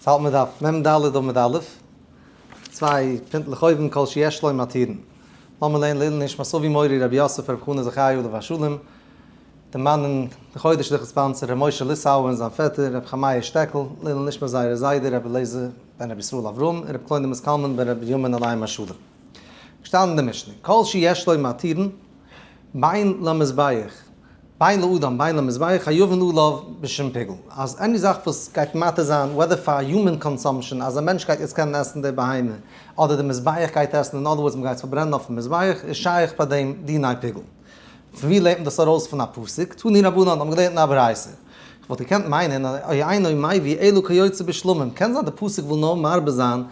ס'האלט מען דארף מ ד אדער מ ד א', צוויי פינטלעך אויבן כל שיש לו מתירין. לאמיר לערנען לעילוי נשמת אבי מורי רבי יוסף רבי חנא זכרי' עליו השלום, דערמאנען די חודש דורכן ספאנסער ר' משה ליסאווער און זיין פעטער רבי חמיה שטעקל, לעילוי נשמת זייערע זיידע רבי אליעזר בן רבי ישראל אברהם און רבי קלוידעמוס קלמן בן רבי בנימין עליהם השלום. געשטאנען אין די משנה, כל שיש לו מתירין, בין למזבח, בין לאדם, בין למזבח, א יבן לו לאו בשום פיגול, אז עני זאך וואס גייט מתיר זיין, וועדער פאר יומען קאנסאמפשען, אז א מענטש גייט יעצט קענען עסן די בהמה, אדער די מזבח גייט עסן, אין אדער ווארדס מ'גייט עס פארברענען אויפן מזבח, איז שייך ביי דעם דיני פיגול. פון ווי לערנט מען דאס ארויס פון א פסוק? תני רבנן האבן געלערנט אין א ברייתא. איך וואלט געקענט מיינען, אוי אינו מאי ווי אלו כיוצא בשלומים, קען זיין די פסוק וויל נאר מרבה זיין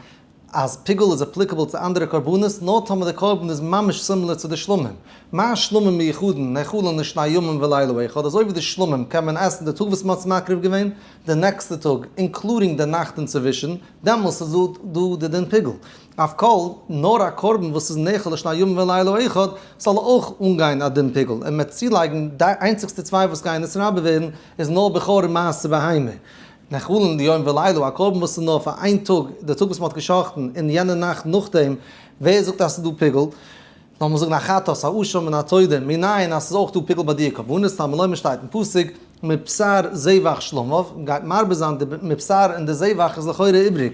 אז פיגול איז אפליקעבל צו אנדערע קרבנות נאר טאמער די קרבן איז ממש סימילער צו די שלמים, מה שלמים מיוחדין נאכלן לשני ימים ולילה אחד, אזוי ווי די שלמים קען מען עסן די טאג וואס מען האט עס מקריב געווען, די נעקסטע טאג, אינקלודינג די נאכט אינצווישן, דעמאלס איז דא די דין פיגול. אויף כל, נאר א קרבן וואס איז נאכל לשני ימים ולילה אחד זאל אויך אנגיין א דין פיגול, און מען צולייגן די איינציגסטע צוויי וואס גייען נתרבה ווערן איז נאר בכור און מעשה בהמה, נחלין ליום ולילה, א קרבן וואס איז נאר פאר איין טאג, די טאג וואס מען האט געשחט'ן, און יענע נאכט נאכדעם, ווער זאגט אז עס איז דא פיגול? לאמיר אבער זאגן א חטאת, א עשה מן התודה, מנין אז עס איז אויך דא פיגול ביי דיע קרבנות, תלמי לומר שטייט אין פסוק, מבשר זבח שלמיו, מען גייט מרבה זיין די מבשר און די זבח איז לכאורה איבריג,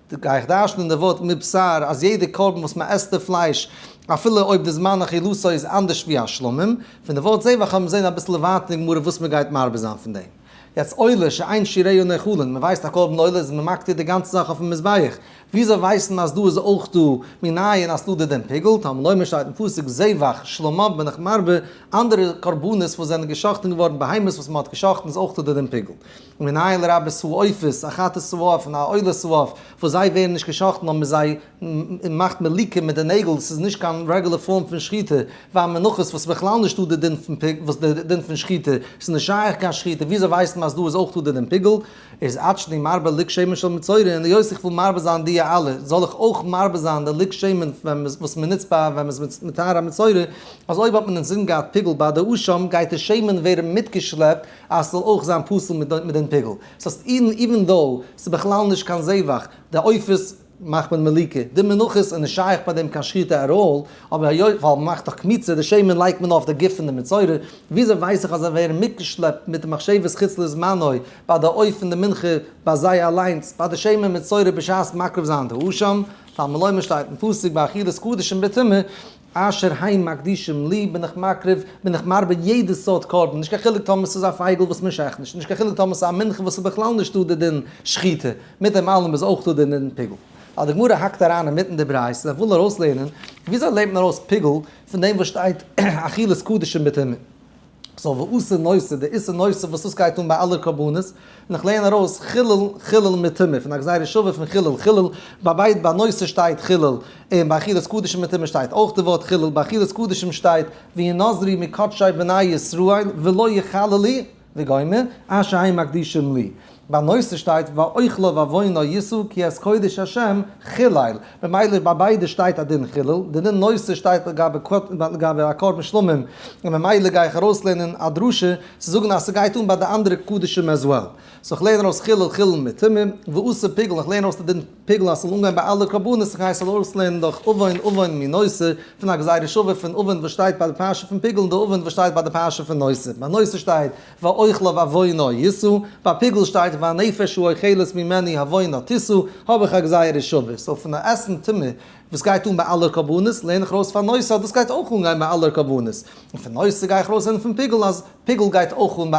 גיי איך דרש'נען אין די ווארט מבשר אז יעדע קרבן וואס מען עסט די פלייש אפילו אויב די זמן אכילתו איז אנדערש ווי השלמים, פון די ווארט זעה וועל האבן זעהן אביסל ווייטער אין גמרא וואס מען גייט מרבה זיין פון דעם. יעצט עולה שאין שיריה נאכלין, מען ווייסט א קרבן עולה איז מען מקטיר די גאנצע זאך אויפן מזבח, וויאזוי ווייסט מען אז דא איז אויך דא מנין אז לודה דעם פיגול, תאמר לומר שטייט אין פסוק זבח שלמיו בין איך מרבה, אנדערע קרבנות וואס זענען געשאכטן געווארן בהמות וואס מען האט געשאכטן איז אויך לודה דעם פיגול. מנהל רבי סועפות, א חתס סועף און א עולה סועף, וואס זיי ווערן נישט גע'שחט'ן אויב מ'זיי מאכט מליקה מיט די נעגל, ס'איז נישט קיין רעגולער פארם פון שחיטה, וויי מנחות וואס בכלל נישטא די דין פון פיגול, וואס די דין פון שחיטה, ס'איז נישט שייך קיין שחיטה, וויאזוי ווייסט מען אז דא איז אויך דא די דין פיגול? איז אט שני מרבה לק שמן של מצורין, און היות איך וויל מרבה זיין דיע אלע, זאל איך אויך מרבה זיין די לק שמן וואס מ'נוצט ביי ווען מ'איז מטהר א מצורע, אז אויב האט מען אינזין געהאט פיגול ביי די אשם, גייט די שמן ווערן מיטגעשלעפט, אז ס'זאל אויך זיין פסול מיט מיט דעם פיגול. ס'הייסט אז אידן איווען דאו ס'איז בכלל נישט קיין זעוואך, די עופות מאכט מען מליקה, די מנחות איז נישט שייך ביי דעם קיין שחיטה עט אלל, אבער היות ווייל מ'מאכט דאך קמיצה די שמן לייגט מען אויף די גוף פון די מצורע, וויאזוי ווייס איך אז זיי ווערן מיטגעשלעפט מיט די מחשבת חוץ לזמנו ביי די עוף און די מנחה ביי זיי אליינס ביי די שמן מצורע בשעת מקריב זיין די עשם, טעמא לומר שטייט אין פסוק ביי אכילת קדשים בטומאה, אשר ה' מקדישים לי בין איך מקריב, בין איך מרבה יעדע סארט קרבן, נישט קיין חילוק טאמער ס'איז א פייגל וואס מ'שחט נישט, נישט קיין חילוק טאמער ס'איז א מנחה וואס איז בכלל נישטא די דין שחיטה, מיט דעם אלעם איז אויך דא די דין פיגול. אז די גמרא האקט אריין אינמיטן די ברייתא און וויל ארויסלערנען וויאזוי לערנט מען ארויס פיגול פון דעם וואס שטייט אכילת קדשים בטמא. סאו וואסע נושא? די איסור נושא וואס עס גייט אן ביי אלע קרבנות, און איך לערן ארויס חילול חילול מטומאה פון א גזירה שוה פון חילול חילול, ביי ביידע ביי נושא שטייט חילול, און ביי אכילת קדשים מטומאה שטייט אויך די ווארט חילול, ביי אכילת קדשים שטייט והיא נזרי מקדשי בני ישראל ולא יחללי וגומר, אשרי מקדישים לי. ביי נושא שטייט ואוכלו ואבינו ישאו כי את קודש השם חילל, ממילא ביי ביידע שטייט א דין חילל, די דין נושא שטייט לגבי א קרבן שלמים, און ממילא גיי איך ארויסלערנען א דרשה צו זאגן אז ס'גייט אן ביי די אנדערע קדשים as well. סאו איך לערן ארויס חילל חילל מטומאה, ועשה פיגול, איך לערן ארויס די דין פיגול אז ס'זאל אנגיין ביי אלע קרבנות, איך גיי עס ארויסלערנען דורך אבין אבין מי נושא, פון א גזירה שווה פון אבין וואס שטייט ביי די פרשה פון פיגול און די אבין וואס שטייט ביי די פרשה פון נושא. ביי נושא שטייט. ואוכלה ועוונה ישא, ביי פיגול שטייט והנפש הוא אוכלת ממני העוונה תשא, האב איך א גזירה שווה, סאו פון א עסן טעמע וואס גייט אן ביי אלע קרבנות לערן איך ארויס פרנסה אז דאס גייט אויך אנגיין ביי אלע קרבנות, און פון נושא גיי איך ארויסלערנען פון פיגול אז פיגול גייט אויך אן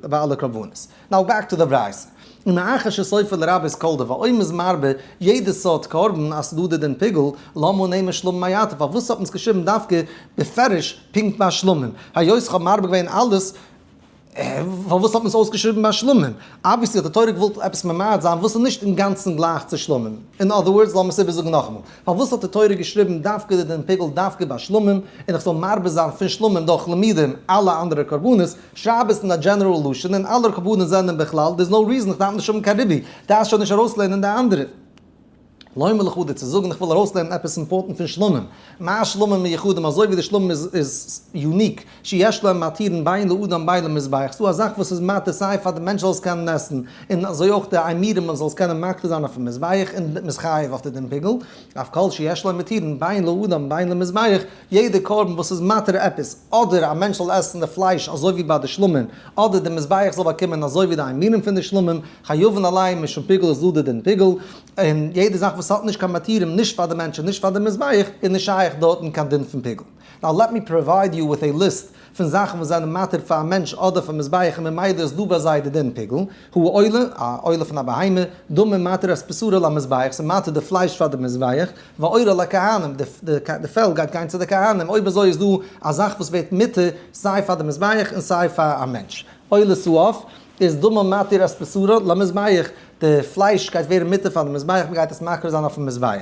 ביי אלע קרבנות. נאו בעק טו די ברייתא. און מאחר שסופר לרבות כל דבר אויב מ'איז מרבה יעדע סארט קרבן אז ס'דא די דין פיגול, למה נעימה שלא במעט, פארוואס האט מען עס געשריבן דווקא בפירוש פונקט ביי שלמים, היות איך האב מאבד געווען אלעס, פארוואס האט מען עס אויסגעשריבן ביי שלמים? אבוויעסלי האט די תורה געוואלט עפעס ממעט זיין וואס איז נישט אינגאנצן גלייך צו שלמים. אין אדער ווארדס, לאמיר עס איבערזאגן נאכאמאל, פארוואס האט די תורה געשריבן דווקא די דין פיגול דווקא ביי שלמים, און איך זאל מרבה זיין פון שלמים דורך למידים אלע אנדערע קרבנות, שרייב עס אין א דזשענעראל לשון און אלע קרבנות זענען בכלל, דער איז נאו ריזען איך דארף נישט האבן קיין רבי, דארפסט שוין נישט ארויסלערנען די אנדערע. לא מלך הוא דיר צו זאגן איך וויל ארויסלערנען עפעס אימפארטענט פון שלמים, מה השלמים מיוחדים אזוי ווי די שלמים איז איז יוניק, שיש להם מתירין בין לאדם בין למזבח, ס'דא א זאך וואס איז מתיר סיי פאר די מענטש זאל עס קענען עסן, און אזוי אויך די עמירם מען זאל עס קענען מקריב זיין אויפן מזבח און מען איז חייב אויף די דין פיגול, אויף כל שיש להם מתירין בין לאדם בין למזבח, יעדע קרבן וואס איז מתיר עפעס, אדער א מענטש זאל עסן די פלייש אזוי ווי ביי די שלמים, אדער די מזבח זאל באקומען אזוי ווי די איימינים פון די שלמים, חיובן עלי' משום פיגול איז דא די דין פיגול, און יעדע זאך וואס האט נישט קיין מתירים נישט פאר די מענטש און נישט פאר די מזבח איז נישט שייך דארטן קיין דין פון פיגול. נאו לעט מי פראווייד יו וויט עי ליסט. פון זאכן וואס זענען מתיר פאר א מענטש אדער פאר מזבח און ממילא איז דא ביי זיי די דין פיגול, הוא עולה, א עולה פון א בהמה, דומם מתיר אז בשרו למזבח, ס'איז מתיר די פלייש פאר די מזבח, ועורה לכהנים, די פעל גייט גיין צו די כהנים, אויב אזוי איז דא א זאך וואס ווערט מתיר סיי פאר די מזבח און סיי פאר א מענטש, עולה סואף, איז דומם מתיר אז בשרו למזבח, די פלייש גייט ווערן מתיר פאר די מזבח, מ'גייט עס מקריב זיין אויפן מזבח.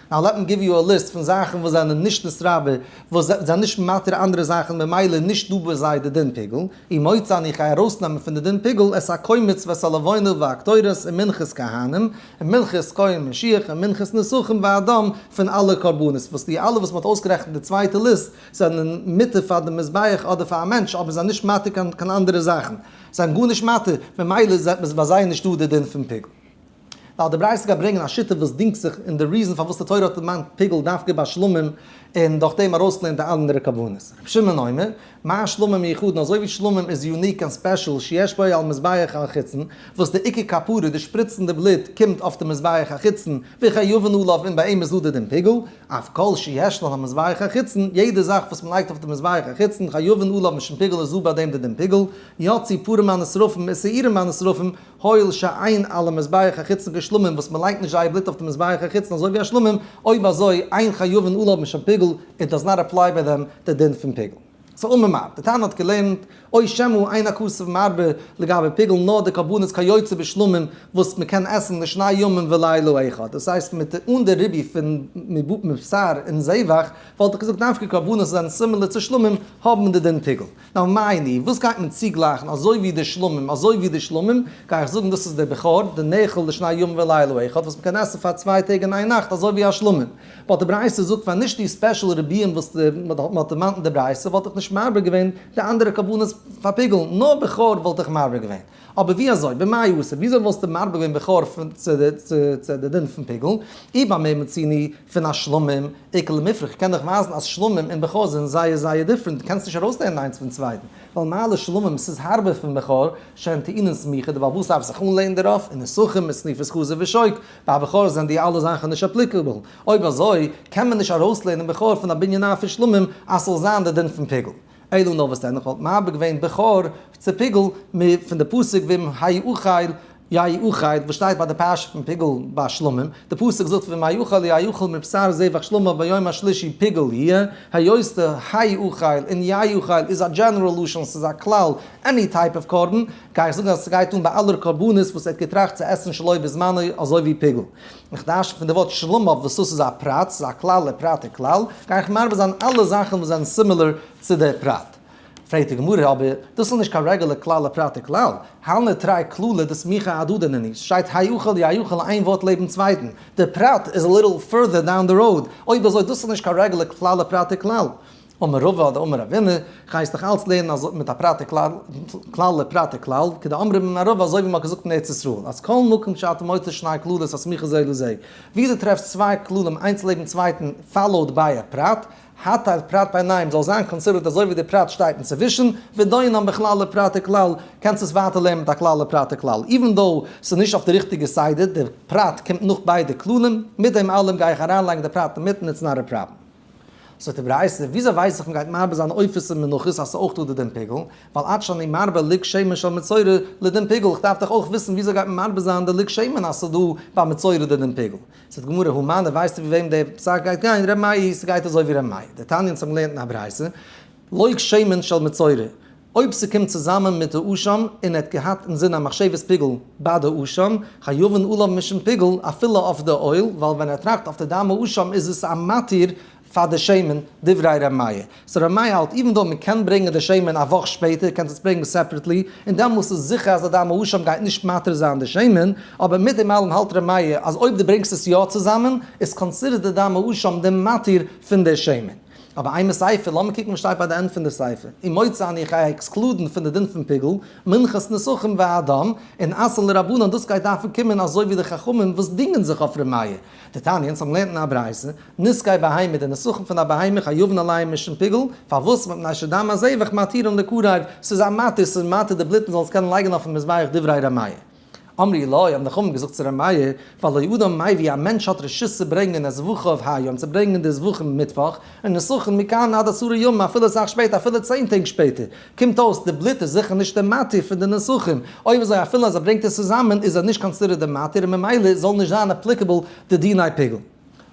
נאו לעט מי גיוו יו א ליסט פון זאכן וואס זענען נישט נצרב ב, וואס זענען נישט מתיר אנדערע זאכן ממילא נישט דא ביי זיי די דין פיגול, אי מוצא אני גיי ארויסנעמען פון די דין פיגול את הכהן מצוות הלבנה והקטורת און מנחת כהנים און מנחת כהן משיח און מנחת נסכים ואדם פון אלע קרבנות וואס די אלע וואס מען האט אויסגערעכנט די צווייטע ליסט זענען מתיר פאר די מזבח אדער פאר א מענטש אבער זענען נישט מתיר קיין אנדערע זאכן זענען גארנישט מתיר ממילא איז עפעס ביי זיי נישט דא די דין פון פיגול. ווייל די בריית'ס גייט ברענגען א שיטה וואס דינגט זיך אין די ריזן פארוואס די תורה האט דערמאנט פיגול דווקא ביי שלמים און דורך דעם ארויסלערנט די אנדערע כוונות. ר' שמעון אומר, מה שלמים מיוחדן אזוי ווי שלמים איז יוניק און ספעשל שיש בו על מזבח החיצון וואס די עיקר כפרה די שפריצן די בלוט קומט אויף די מזבח החיצון וכן יבן עליו און ביי אים איז דא די דין פיגול אויף כל שיש לו על המזבח החיצון יעדע זאך וואס מ'לייגט אויף די מזבח החיצון כיבן עליו משום פיגול איז דא ביי דעם די דין פיגול יוציא פרים מהנשרפים און שעירים מהנשרפים הואיל שאין על המזבח החיצון כשלמים וואס מען לייגט נישט זייער בלוט אויף די מזבח החיצון אזוי ווי השלמים, אויב אזוי אין חיובין אלל האבן שוין פיגול, איט דאז נאט עפליי ביי דעם די דין פון פיגול. סא און ממד, די תנא האט געלערנט, אוי שמא אין הכסף מרבה לגבי פיגול נאר די קרבנות כיוצא בשלמים וואס מען קען עסן לשני ימים ולילה אחד, דאס הייסט מיט אן די ריבי פון מבשר און זבח, וואלט איך געזאגט דווקא קרבנות וואס זענען סימילער צו שלמים האבן די דין פיגול. נאו מייני, וואס גייט מען צוגלייכן, אזוי ווי די שלמים, אזוי ווי די שלמים, גיי איך זאגן דאס איז דער בכור, די נעכל לשני ימים ולילה אחד, וואס מ'קען עסן פאר צוויי טעג און איין נאכט אזוי ווי א שלמים. באט די ברייתא זאגט פאר נישט די ספעשל רבי'ן וואס מ'האט דערמאנט אין די ברייתא, וואלט איך נישט מרבה געווען די אנדערע כוונות פאר פיגול, נאר בכור וואלט איך מרבה געווען. אבער ווי אזוי? במה יעשה? וויאזוי וואלסטו מרבה געווען בכור צו די דין פון פיגול? אי ביי מיר מציני פון א שלמים עיקר למפרע, כ'קען דאך ווייזן אז שלמים און בכור זענען זייער זייער דיפרענט, דו קענסט נישט ארויסלערנען איינס פון צווייטן, ווייל מעלה שלמים ס'איז הארבער פון בכור, שאין טעינן סמיכא, דערווייל וואס דארף זיך אנלערנען דערויף? און נסכים מיט שניפת חזיר ושוק, ביי בכור זענען די אלע זאכן נישט אפליקעבל, אויב אזוי קען מען נישט ארויסלערנען בכור פון א בנין א פון שלמים אז ס'זאל זיין די דין פון פיגול. אילו נאר וואס ענליך וואלט מבער געווען בכור צו פיגול מ פון די פסוק ואם האי אוכל יאי אוכל וואס שטייט ביי די פרשה פון פיגול ביי שלמים, די פסוק זאגט ואם האי אוכל יאי אוכל מבשר זבח שלמה ביום השלישי פיגול יהיה, היות די האי אוכל און יאי אוכל איז א דזשענעראל לשון ס'איז א כלל עני טייפ אוו קרבן, גיי איך זאגן אז ס'גייט אן ביי אלע קרבנות וואס ער האט געטראכט צו עסן שלא בזמנו אזוי ווי פיגול. מיך דארשט פון די ווארט שלום אויף וואס דאס איז א פרט, ס'איז א כלל און פרט און כלל, גיי איך מרבה זיין אלע זאכן וואס זענען סימילער צו די פרט. פרעגט די גמרא, אבער דאס איז נישט קיין רעגולער כלל און פרט און כלל, הל' נתראה כללה דסמיכא הדדא נני, ס'שטייט היכול יהיכול איין ווארט לעבן צווייטן, די פרט איז א ליטל פורדער דאון די ראוד, אויב אזוי דאס איז נישט קיין רעגולער כלל און פרט און כלל. אמר רבא אדער אמר אבינו, גייסט דאך אלץ לערנען אזוי מיט א פרטי כלל, כלל לפרטי כלל, כדי אמרי בן ערובה אזוי ווי מען האט געזאגט אין ארץ ישראל, אז כל מקום שאתה מוצא שני כללות הסמיכין זה לזה, ווי דו טרעפסט צוויי כללים איינס לעבן צווייטן פאלאוד ביי א פרט, הטייל פרט ביינאיהם זאל זיין קאנסידערט אזוי ווי דער פרט שטייט אינצווישן, ודינן בכלל לפרטי כלל, קענסט עס ווייטער לערנען מיט א כלל לפרטי כלל, איווען דאו ס'איז נישט אויף די ריכטיגע סדר, דער פרט קומט נאך ביידע כללים, מיט דעם אלעם גיי איך אריינלייגן די פרט אינמיטן, איטס נאט א פראבלעם. זאגט אים ר' אייסער, וויאזוי ווייס איך מ'גייט מרבה זיין עופות און מנחות אז ס'איז אויך דא די דין פיגול, ווייל עד שאני מרבה לג שמן של מצורע לדין פיגול, איך דארף דאך אויך וויסן וויאזוי גייט מען מרבה זיין די לג שמן אז ס'איז דא ביי מצורע די דין פיגול. זאגט די גמרא, המן, און ווייסטו ווי וועם די פסק גייט גיין, ר' מאיר, ס'גייט אזוי ווי ר' מאיר, די תניא אונז האבן געלערנט אין א ברייתא, לג שמן של מצורע, אויב ס'קומט צוזאמען מיט א אשם און ער האט געהאט אינזין א מחשבת פיגול ביי די אשם, חיובן עליו משום פיגול אפילו אויף די עול, ווייל ווען ער טראכט אויף די דאמע אשם איז עס א מתיר פאר די שמן, דברי ר' מאיר. סאו ר' מאיר האלט איווען דאו מען קען ברענגען די שמן א וואך שפעטער קענסט עס ברענגען סעפערעטלי און דעמאלס איז זיכער אז די דאמע אשם גייט נישט מתיר זיין די שמן, אבער מיט דעם אלעם האלט ר' מאיר אז אויב די ברענגסט עס יא צוזאמען איז קאנסידערט די דאמע אשם די מתיר פון די שמן. אבער איין מאל סייפער, לאמיר קוקן וואס שטייט ביי די ענד פון די סייפער, און מוצא אני איך גיי עקסקלודן פון די דין פון פיגול, מנחת נסכים ואדם, און עשה לרבנן, דאס גייט דארפן קומען אזוי ווי די חכמים וואס דינגען זיך אויף ר' מאיר, די תניא, אונז האבן געלערנט אין א ברייתא, נזקי בהמה, די נסכים פון א בהמה, חיובן עליהם משום פיגול, פארוואס, מפני שדם הזבח מתירין לקרב, ס'איז א מתיר, ס'איז מתיר די בלוט מ'זאל עס קענען לייגן אויפן מזבח דברי ר' מאיר. אמרי לו, האבן די חכמים געזאגט צו ר' מאיר, פאר לא אדם מאי ווי א מענטש האט רשות צו ברענגען את זבחיו היום, צו ברענגען די זבחים מיטוואך, און נסכם מכאן עד עשרה ימים, אפילו אסאך שפעטער, אפילו צען טעג שפעטער, קומט אויס די בלוט איז זיכער נישט די מתיר פון די נסכים, אויב אזוי אפילו אז ער ברענגט עס צוזאמען איז ער נישט קאנסידערט די מתיר און ממילא זאל נישט זיין אפליקעבל די דיני פיגול.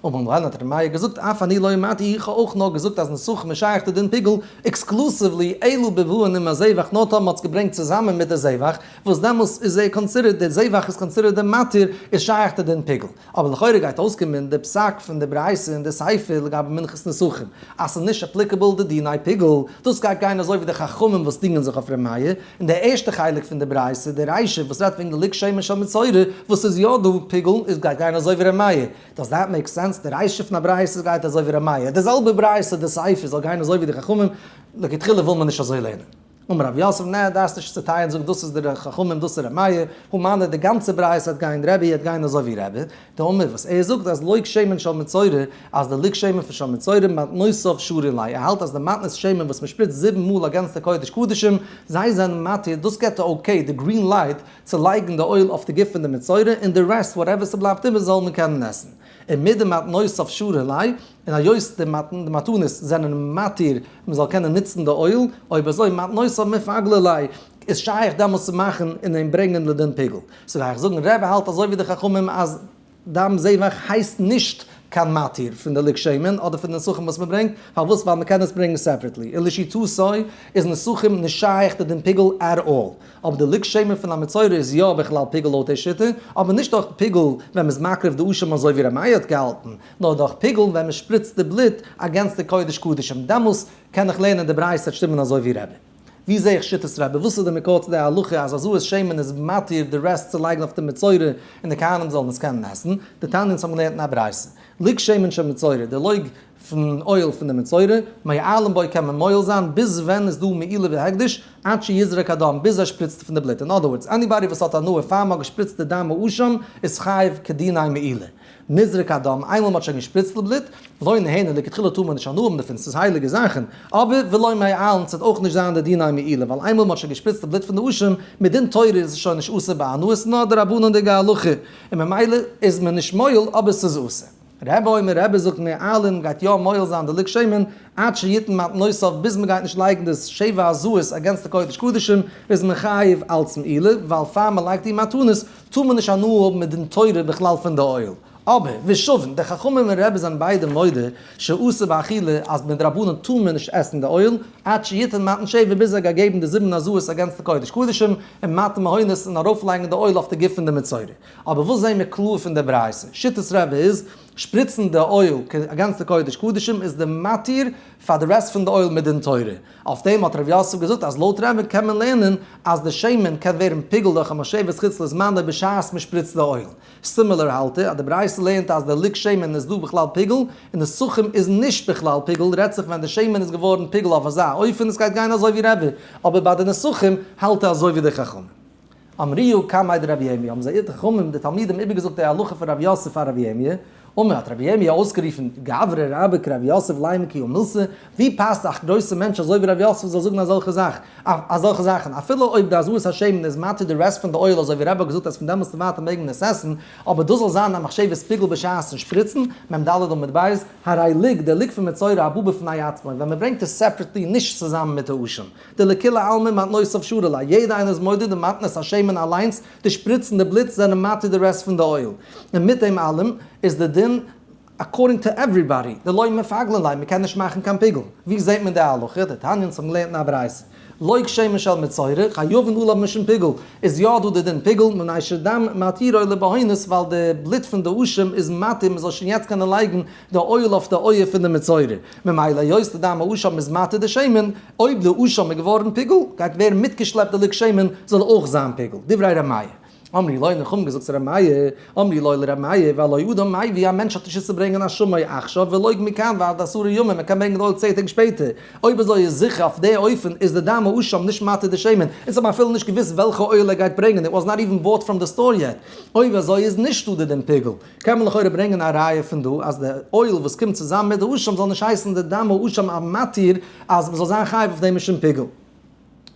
אומאמאל האט ר' מאיר געזאגט אף אני לא אמרתי איך האב אויך נאר געזאגט אז נסכים איז שייך צו דעם פיגול, עקסקלוסיוולי אלא בבואו נ מ א זבח נאר טאמער מ'האט עס געברענגט צוזאמען מיט די זבח, וואס דעמאלס איז ער קאנסידערט די זבח איז קאנסידערט די מתיר איז שייך צו דעם פיגול. אבער לכאורה גייט אויסקומען די פסק פון די ברייתא אין די ספר לגבי מנחת נסכים אז ס'איז נישט אפליקעבל די דיני פיגול, דאס גייט גיין אזוי ווי די חכמים וואס דינגען זיך אויף ר' מאיר, אין די ערשטע חלק פון די ברייתא, די רישא וואס רעדט וועגן די ליקט שמן של מצורע, וואס איז יא דא פיגול, איז גייט גיין אזוי ווי ר' מאיר. דאס דארף מעיק סענס, די רישא פון א ברייתא גייט אזוי ווי ר' מאיר, די זעלבע ברייתא די סעיף זאל גיין אזוי ווי די חכמים, לכתחילה וויל מען נישט אזוי לערנען. אמר רב יוסף, נע, דארפסט נישט צוטיילן, זאג דאס איז די חכמים דאס איז ר' מאיר, הא מנה די גאנצע ברייתא וועט גיין רבי וועט גיין אזוי ווי רבי, טעמע וואס ער זאגט אז לויק שמן של מצורע אז די לויק שמן פון של מצורע מתנותיו שורין ליה ער האלט אז די מתנות שמן וואס מען שפריצט זיבן מאל אגענצטע קודש קדשים זיי זענען מתיר דאס געט די אקעי די גרין לייט צו לייגן די אויל אויף די גוף פון די מצורע און די רעסט וואטעווער ס'בלייבט איבער זאל מען קענען עסן און מיט די מתנותיו שורין ליה און היות די מתנות זענען מתיר מען זאל קענען נוצן די אויל, אויב אזוי מתנותיו מפגלה ליה, איז שייך דעמאלס צו מאכן און אים ברענגען לדין פיגול. סאו וועל איך זאגן ר ר האלט אזוי ווי די חכמים אז דם זבח הייסט נישט קיין מתיר פון די לג שמן אדער פון די נסכים וואס מען ברענגט, פארוואס ווייל מען קען עס ברענגן סעפערעטלי, און לשיטתו איז נסכים נישט שייך די דין פיגול עט אלל, אבער די לג שמן פון המצורע איז יא בכלל פיגול לויט דעי שיטה, אבער נישט אויך פיגול ווען מען איז מקריב די אשם אזוי ווי רמאי האט געהאלטן, נאר דורך פיגלן ווען מען שפריצט די בלוט אגענסט די קודש קדשים, דעמאלס קען איך לערנען די ברייתא און שטימען אזוי ווי רבי. ווי זעה איך שיטת רבי? וואס איז די מקור צו די הלכה אז א זוהר שמן איז מתיר די רעסט צו לייגן אויף די מצורע און די כהנים זאלן עס קענען עסן? די תניא אונז האבן געלערנט אין א ברייתא, לוג שמן של מצורע, די לוג פון אויל פון די מצורע, מועלם בו קען מען מועל זיין ביז ווען איז דא מעילה והקדש, עד שיזרק הדם, ביז ער שפריצט פון די בלוט, אין אדער ווארדס, עניבאדי וואס האט הנאה פאר מען האט געשפריצט די דם האשם איז חייב כדיני מעילה. נזרק הדם, איינמאל מ'האט שוין געשפריצטל בלוט, לא נהנה, לכתחילה טאר מען נישט הנאה האבן דערפון, ס'איז הייליגע זאכן, אבער ולא מעיל, און ס'וועט אויך נישט זיין די דינא מעילה, ווייל איינמאל מ'האט שוין געשפריצט די בלוט פון די אשים, מדין תורה איז עס שוין נישט אסור בהנאה, נאר די רבנן'דיגע הלכה, און ממילא איז מען נישט מועיל, אבער ס'איז אסור. רעבע אומר רעבע זאגט מעעלין גייט יא מועיל זיין די לק שמן עד שיתן מתנותיו ביז מ'גייט נישט לייגן די שבע הזוהות אגענסט די קודש קדשים איז מען חייב אלץ מעילה ווייל פאר מ'לייגט איר מתנות טאר מען נישט הנאה האבן מיט דין תורה בכלל פון די אויל. אבער, ושבן, די חכמים און רעבעס זענען ביידע מודה שאסור באכילה אז מדרבנן טאר מען נישט עסן די אויל, עד שיתן מתן שבע ביז ער האט געגעבן די זיבן הזיות אגענסט די קודש קדשים און מתן מהונות און ארויפלייגן די אויל אויף די גוף פון די מצורע. אבער וואס זעהן מיר קלאר פון די ברייתא? שיטת רעבע איז, שפריצן די אויל אגענסט די קודש קדשים איז די מתיר פאר די רעסט פון די אויל מדין תורה. אויף דעם האט ר' יוסף געזאגט אז לויט רמב ם קען מען לערנען אז די שמן קען ווערן פיגול דורך א משאבת חוץ לזמנה בשעת מען שפריצט די אויל. סימילער האלט ער אז די ברייתא לערנט אז די ליקט שמן איז דא בכלל פיגול, און די סוכרים איז נישט בכלל פיגול, רעדט זיך ווען די שמן איז געווארן פיגול אויף אזא אופן עס גייט גיין אזוי ווי רע ווי, אבער ביי די נסכים האלט ער אזוי ווי די חכמים. אמריהו קמאי דרבי ירמי' האבן זיי איר חכמים די תלמידים איבערגעזאגט די הלכה פון רב יוסף פאר רבי ירמי', אמר האט רבי ירמי' אויסגערופן, גברא רבא כרבי יוסף ליה מקיא ומילתא, ווי פאסט א גרויסע מענטש אזוי ווי רבי יוסף זאל זאגן אזעלכע זאך, אזעלכע זאכן, אפילו אויב די עזרת השם איז מתיר די רעסט פון די אויל אזוי ווי רבא האט געזאגט אז פון דעמאלס און ווייטער מעג מען עס עסן, אבער דאס זאל זיין א מחשבת פיגול בשעת'ן שפריצן, מ ד עמוד ב', הרי ליג, די ליג פון מצורע הבא בפני עצמו, ווען מען ברענגט עס סעפרעטלי נישט צוזאמען מיט העשן. די לכולי עלמא מתנות אויף שורה'לע, א יעדע איינער איז מודה די מתנות השם און אליינס די שפריצן די בלוט זענען מתיר די רעסט פון די אויל, און מיט דעם אלעם איז די דין אקארדינג טו עווריבאדי די לא מפגלין ליה מ'קען נישט מאכן קיין פיגול, ווי זעהט מען די הלכה? די תניא אונז האבן געלערנט אין א ברייתא לויק שמן של מצורע חייבין הוא לו משום פיגול, איז יא דא די דין פיגול מנאי שדם מתירו לבהונות ווייל די בלוט פון די אשים איז מתיר מ'זאל שוין יעצט קענען לייגן די אויל אויף די אויער פון די מצורע, ממילא היות די דם האשם איז מטה די שמן, אויב די אשם איז געווארן פיגול, גייט ווערן מיטגעשלעפט די לק שמן זאל אויך זיין פיגול, דברי ר' מאיר. אמרי לוי, און חמ געזאגט צו ר' מאיר, אמרי לוי לר' מאיר, והלא אדם מאי ווי א מענטש האט נישט וואס צו ברענגען א שמן אויל עכשיו ולויג מכאן ועד עשרה ימים ער קען ברענגען די אויל צען טעג שפעטער, אויב אזוי איז זיכער אויף די אופן איז די דם האשם נישט מטה די שמן, אונז האבן אפילו נישט געוואוסט וועלכע אויל ער גייט ברענגען, איט וואס נאט איווען באוט פראם די סטאר יעט, אויב אזוי איז נישטא די דין פיגול. קען מען לכאורה ברענגען א ראיה פון דא אז די אויל וואס קומט צוזאמען מיט די האשם זאל נישט הייסן די דם האשם א מתיר אז מען זאל זיין חייב אויף דעם משום פיגול.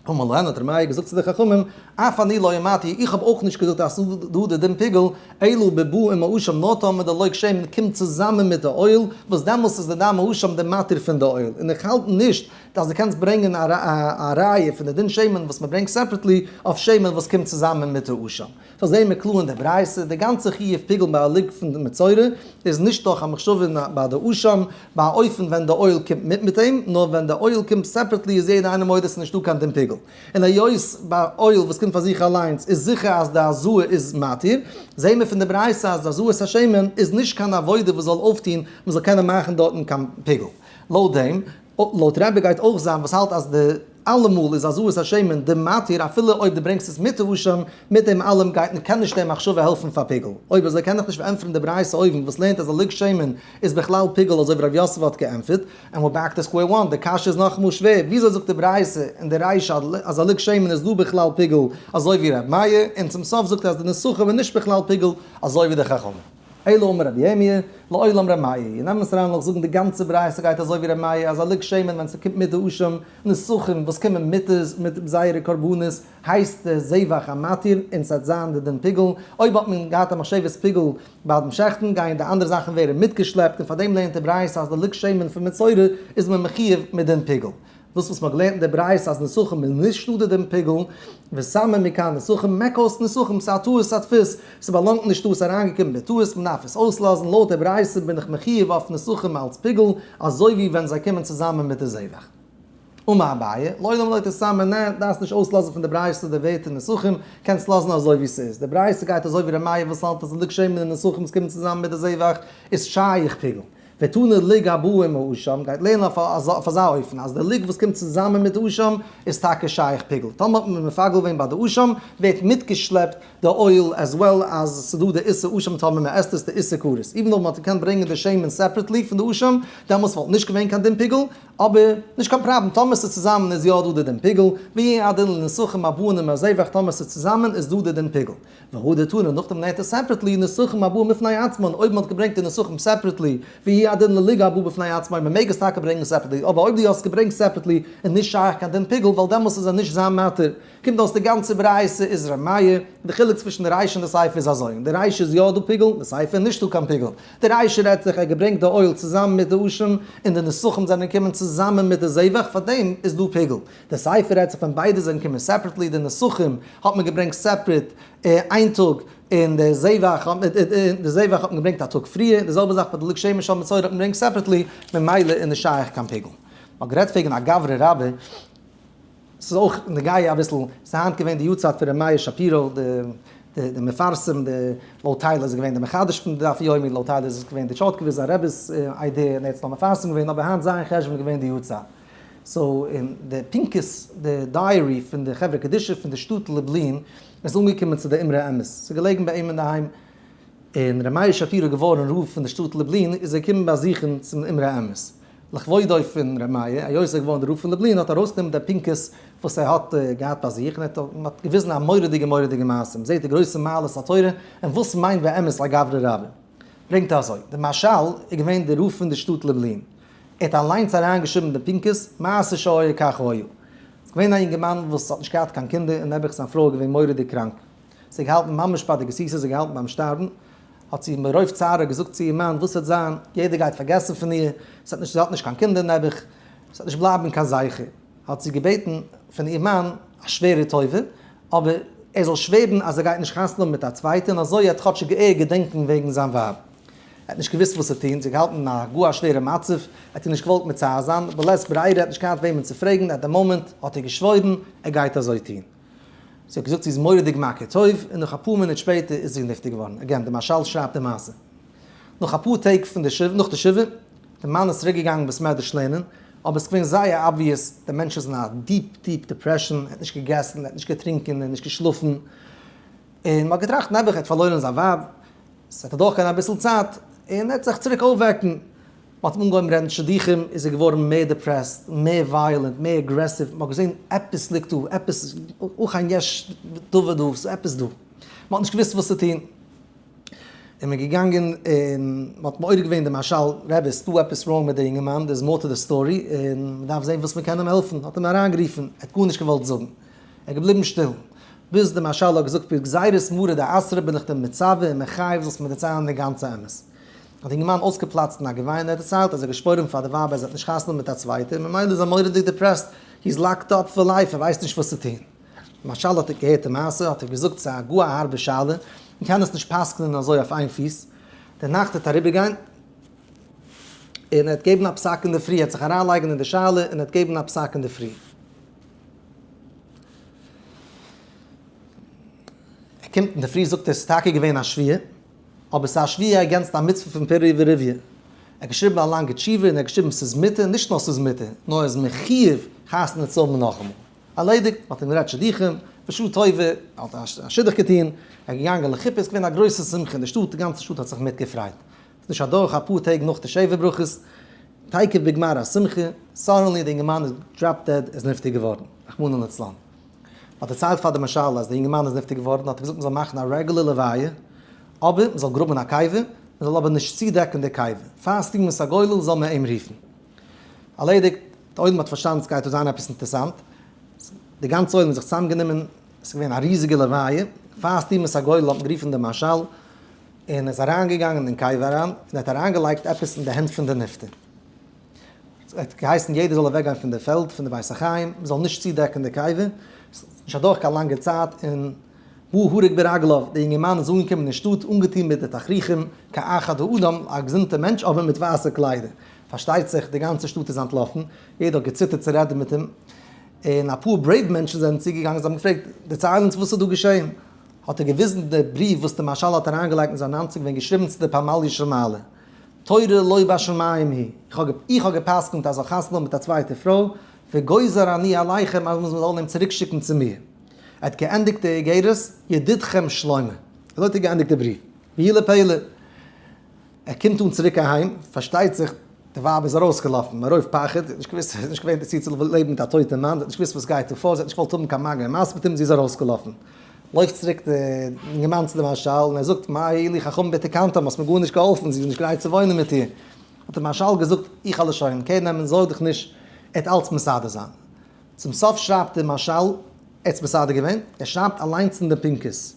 אמר להם, האט ר' מאיר געזאגט צו די חכמים, אף אני לא אמרתי, איך האב אויך נישט געזאגט אז ס'איז דא די דם פיגול, אלא ב ב עם האשם, נאר טאמער די לויק שמן קומט צוזאמען מיט די אויל, וואס דעמאלס איז די דם האשם די מתיר פון די אויל, און איך האלט נישט אז דו קענסט ברענגען א ראיה פון די דין שמן וואס מען ברענגט סעפרעטלי אויף שמן וואס קומט צוזאמען מיט די האשם. סאו זעהן מיר קלאר אין די ברייתא, די גאנצע חיוב פיגול ביי א לולב פון מצורע איז נישט דורך א מחשבה ביי די אשם, ביי א אופן ווען די אויל קומט מיט מיט אים, נאר ווען די אויל קומט סעפרעטלי איז יעדער איינער מודה ס'נישט דא קיין דין פיגול. און היות ביי אויל וואס קומט פאר זיך אליינס איז זיכער אז די הזוה איז מתיר, זעהן מיר פון די ברייתא אז די הזוה'ס השמן איז נישט קיין עבודה וואס זאל אויפטוהן מ'זאל קענען מאכן דארטן קיין פיגול. לויט דעם. לויט רבי גייט אויך זיין וואס האלט אז די אלעמאל איז עזות השמן די מתיר אפילו אויב די ברענגסט עס מיט רושם, מיט דעם אלעם גייט און קען נישט די מחשבה העלפן פאר פיגול. אויב אזוי קען איך נישט פארענטפערן די ברייתא אויבן וואס לערנט אז א לוג שמן איז בכלל פיגול אזוי ווי ר' יוסף האט געענטפערט, ענד וויר בעק טו סקווער וואן, די קשיא איז נאכאמאל שווער, וויאזוי זאגט די ברייתא אין די רישא אז א לוג שמן איז דא בכלל פיגול אזוי ווי ר' מאיר, און צום סוף זאגט ער אז די נסכים איז נישט בכלל פיגול אזוי ווי די חכמים. אלא אמר רבי ירמי', לעולם ר' מאיר, און נעם עס אריין לאך זאגן די גאנצע ברייתא גייט אזוי ווי ר' מאיר אז א לג שמן ווען ס'קומט מדעשים נסכים וואס קומען מיט מיט זייערע קרבנות הייסט דער זבח א מתיר און ס'העט זיין די דין פיגול, אויב האט מען געהאט א משבת פיגול ביי דעם שעכטן גייען די אנדערע זאכן ווערן מיטגעשלעפט און פאר דעם לערנט די ברייתא אז די לג שמן פון מצורע איז מען מחיוב מיט דין פיגול. דאס וואס מען האט געלערנט אין די ברייתא אז נסכים איז נישט שטאדע דעם פיגול, ושמים מכאן נסכים מעק אויס נסכים, ס'איז א טעות הדפוס, ס'באלאנגט נישט דא, ס'איז אריינגעקומען בטעות, מען דארף עס אויסלאזן, לויט די ברייתא בין איך מחיוב אויף נסכים אלץ פיגול, אזוי ווי ווען זיי קומען צוזאמען מיט די זבח. אמר אביי, לא דאמר לויט הסמא נ, דארפסט נישט אויסלאזן פון די ברייתא די ווערטער נסכים, קענסט לאזן אזוי ווי ס'איז, די ברייתא גייט אזוי ווי רמ א וואס האלט אז אין די גשמים די נסכים וואס קומען צוזאמען מיט די זבח איז שייך פיגול, ותנא ליג הבא עם האשם, גייט לערנען אויף אזא אופן אז די ליג וואס קומט צוזאמען מיט די אשם איז טאקע שייך פיגול, טאמער האט מען מפגל געווען ביי די אשם ווערט מיטגעשלעפט די עול עז וועל עז ס'איז דא די איסור אשם טאמער מען עסט עס די איסור כרת, איבן אויב מען האט געקענט ברענגען די שמן סעפרעטלי פון די אשם דעמאלטס וואלט נישט געווען קיין דין פיגול, אבער נישט קיין פראבלעם טאמער ס'איז צוזאמען איז יא דא די דין פיגול, ויהא הדין לנסחים הבאים עם הזבח טאמער ס'איז צוזאמען איז דא די דין פיגול. והוא דתנן, און נאכדעם לערנט ער סעפרעטלי נוסחים הבא מפני עצמן, אויב מען האט געברענגט די נוסחים סעפרעטלי, והיא הדין לליגה הבא בפני עצמה, מען מעג עס טאקע ברענגען סעפרעטלי, אבער אויב דו האסט געברענגט סעפרעטלי איז נישט שייך קיין דין פיגול, ווייל דעמאלס איז ער נישט זיין מטר, קומט אויס די גאנצע ברייתא איז רמיה, די חילוק צווישן די ריישע און די סייפע איז אזוי, אין די ריישע איז יא דא פיגול, אין די סייפע איז נישטא קיין פיגול, די ריישע רעדט זיך ער האט געברענגט די אויל צוזאמען מיט די אשים, און די נוסחים זענען געקומען צוזאמען מיט די זיווג, פארדעם איז דא פיגול. די ספר רעדט זיך ווען ביידע זאגן קומען סעפרעטלי, די נסכים האט מען געברענגט סעפרעט איין טאג, און די זבח האט מען געברענגט א טאג פריער, די זעלבע זאך ביי די לג שמן של מצורע האט מען געברענגט סעפרעטלי, ממילא איז נישט שייך קיין פיגול. מען האט גערעדט וועגן א גברא רבה, ס'איז אויך נוגע אביסל, ס'איז היינט געווען די יארצייט פון ר' מאיר שפירא, די מפרסם, לויט טייל איז ער געווען די מחדש פון די דף יומי, לויט טייל איז עס געווען די טשארטקעוויזע רב'ס איידיע און ער האט עס נאר מפרסם געווען, אבער היינט זיין חשבון איז געווען די יארצייט. סאו אין די פנקס די דייערי פון די חברה קדישא פון די שטאט לובלין איז אנגעקומען צו די אמרי האמת ס'איז געלעגן ביי אים אינדערהיים און ר' מאיר שפירא געווארן רב פון די שטאט לובלין איז ער געקומען באזוכן צום אמרי האמת לכבודו פון ר' מאיר היות ער איז געווארן דער רב פון לובלין האט ער ארויסגענומען די פנקס וואס ער האט געהאט ביי זיך און ער האט געוויזן א מורא'דיגע מורא'דיגע מעשה מ'זעט די גרויסע מעלות התורה און וואס מיינט באמת א גברי רבי ברענגט ער אזוי די משל איז געווען די רב פון די שטאט לובלין ער האט אליינס אריינגעשריבן די פנקס, מעשה שהיה כך היה. ס'איז געווען א יונגערמאן וואס האט נישט געהאט קיין קינדער און נעבעך זיין פרוי איז געווען מורא'דיג קראנק. זי האט געהאלטן ממש ביי די גסיסה, זי האט געהאלטן ביים שטארבן. האט זי מרוב צער געזאגט צו איר מאן, וואס וועט זיין, יעדער גייט פארגעסן פון איר, זי האט נישט, זי האט נישט קיין קינדער נעבעך, עס וועט נישט בלייבן קיין זכר. האט זי געבעטן פון איר מאן א שווערע טובה, אבער ער זאל שווערן אז ער גייט נישט חתונה האבן מיט א צווייטע און אזוי ער האט כאטשיג געערט געדענקן וועגן זיין ווייב. ער האט נישט געוואוסט וואס צו טון, זיך געהאלטן אין א גאר שווערע מצב, ער האט איר נישט געוואלט מצער זיין, בלית ברירה, ער האט נישט געהאט וועמען צו פרעגן, עט דע מאמענט האט ער געשוואוירן ער גייט אזוי טון. זי האט געזאגט זי איז מורא'דיג מכיר טוב, און נאך אפאר מינוט שפעטער איז זי נפטר געווארן, עגעין דער מהרשל שרייבט די מעשה. נאך אפאר טעג פון די שבעה, נאך די שבעה, איז די מאן איז צוריק געגאנגען בית מדרש לערנען, אבער עס איז געווען זייער אבוויעס, דער מענטש איז אין א דיעפ דיעפ דיפרעשאן, ער האט נישט געגעסן, ער האט נישט געטרינקען, ער האט נישט געשלאפן, און מען האט געטראכט נעבעך ער האט פארלוירן זיין ווייב, ס'וועט אדורך גיין אביסל צייט און ער וועט זיך צוריק אויפוועקן. מ'האט אים אנגעהויבן רעדן שידוכים איז ער געווארן מער דיפרעסט, מער ווייעלענט, מער אגרעסיוו, מ'האט געזען עפעס ליגט דא, עפעס היכן יש דבר דא, ס'איז עפעס דא. מ'האט נישט געוואוסט וואס צו טון. און מ'איז געגאנגען און מ'האט מעורר געווען די משל רבי, ס'דא עפעס ראנג מיט די אינגערמאן, דער איז מאר טו די סטארי און מ'דארף זען וואס מ'קען אים העלפן. האט אים אריינגערופן, ער האט גארנישט געוואלט זאגן. ער געבליבן שטיל, ביז די משל האט געזאגט פרק גזירות מרא דאסרא בין איך דען מצווה און מחייב זאלסט מיר דערציילן די גאנצע אמת. האט די אינגערמאן אויסגעפלאצט אין א געוויין און ער האט דערציילט אז ער האט געשפוירן פאר די ווייב אז ער האט נישט חתונה מיט א צווייטע און ממילא איז ער מורא'דיג דיפרעסט, הי איז לאקד אפ פאר לייף, ער ווייסט נישט וואס צו טון. די משל האט ער געהערט די מעשה האט ער געזאגט ס'איז א גאר א הארבע שאלה, מ'קען עס נישט פסק'נען אזוי אויף איין פיס, די נאכט וועט אריבערגיין און ער וועט געבן א פסק אינדערפרי, ער וועט זיך אריינלייגן אין די שאלה און ער וועט געבן א פסק אינדערפרי. ער קומט אין די פרי זאגט ער ס'איז טאקע געווען א שוויה, אבער ס'איז א שוויה אגענסט א מצוה פון פר' ורביה. ער האט געשריבן א לאנגע תשובה און ער האט געשריבן ס'איז מותר, נישט נאר ס'איז מותר, נאר ער איז מחיוב חתונה צו האבן נאכאמאל. ארלעדיגט, מ'האט אים גערעדט שידוכים, בשעה טובה, ער האט א שידוך געטון, ער איז געגאנגען לחופה, ס'איז געווען א גרויסע שמחה אין די שטאט, די גאנצע שטאט האט זיך מיטגעפרייט. ס'איז נישט אדורך אפאר טעג נאך די שבע ברכות, תיכף בגמר השמחה, סאדענלי די אינגערמאן איז דראפ דעד, איז נפטר געווארן, רחמנא לצלן. מ'האט דערציילט פאר די משל אז די אינגערמאן איז נפטר געווארן, האט ער געזאגט מ'זאל מאכן א רעגולער לוויה, אבער מ'זאל גראבן א קבר, מ'זאל אבער נישט צודעקן די קבר, פאר סטימוס הגולל זאל מען אים רופן. ארלעדיגט, די עולם האט פארשטאנען ס'גייט דא זיין עפעס אינטערסאנט, די גאנצע עולם איז זיך צוזאמגענומען, ס'איז געווען א ריזיגע לוויה, פאר סטימוס הגולל האט מען גערופן די משל, און איז אריינגעגאנגען אין קבר אריין, און ער האט אריינגעלייגט עפעס אין די הענט פון די נפטר. ער האט געהייסן יעדער זאל אוועקגיין פון די פעלד, פון די בית החיים, מ'זאל נישט צודעקן די קבר, נישט אדורך קיין לאנגע צייט, און הוא הרג ברגליו, דער יונגערמאן איז אנגעקומען אין שטאט אנגעטון מיט די תכריכים, כאחד האדם, א געזונטער מענטש, אבער מיט ווייסע קליידער. פארשטייט זיך, די גאנצע שטאט איז אנטלאפן, יעדער האט געציטערט צו רעדן מיט אים, און אפאר ברעיוו מענטשן זענען צוגעגאנגען, זיי האבן געפרעגט, דערצייל אונז וואס איז דא געשען? האט ער געוויזן די בריוו וואס די משל האט אריינגעלייגט אין זיין אנצוג ווען געשריבן צו די פמליא של מעלה. תורה לא בשמים היא. איך האב גע'פסק'נט אז זאל חתונה האבן מיט א צווייטע פרוי, וגוזר אני עליכם אז מ'זאל אים צוריק שיקן צו מיר. ער האט געענדיגט די איגרת, ידידכם שלמה. אזוי האט ער געענדיגט די בריוו. ווי לפלא. ער קומט אן צוריק אהיים, פארשטייט זיך די ווייב איז ארויסגעלאפן מרוב פחד, זי האט נישט געוואוסט, זי איז נישט געווען דערצו צו לעבן מיט א טויטע מאן, זי האט נישט געוואוסט וואס גייט דא פאר, זי האט נישט געוואלט האבן קיין מגע און משא כ זי איז ארויסגעלאפן. לויפט צוריק די אינגערמאן צו די מהרשל און ער זאגט, מה הועיל לי חכם בתקנתם, האסט מיר גארנישט געהאלפן, זי איז נישט גרייט צו וואוינען מיט איר. האט די מהרשל געזאגט, איך העל עס שוין קער נעמען, זארג דיך נישט, ער וועט אלץ מסדר זיין. צום סוף שרייבט די מהרשל, ער האט עס מסדר געווען, ער שרייבט אליינס אין די פנקס,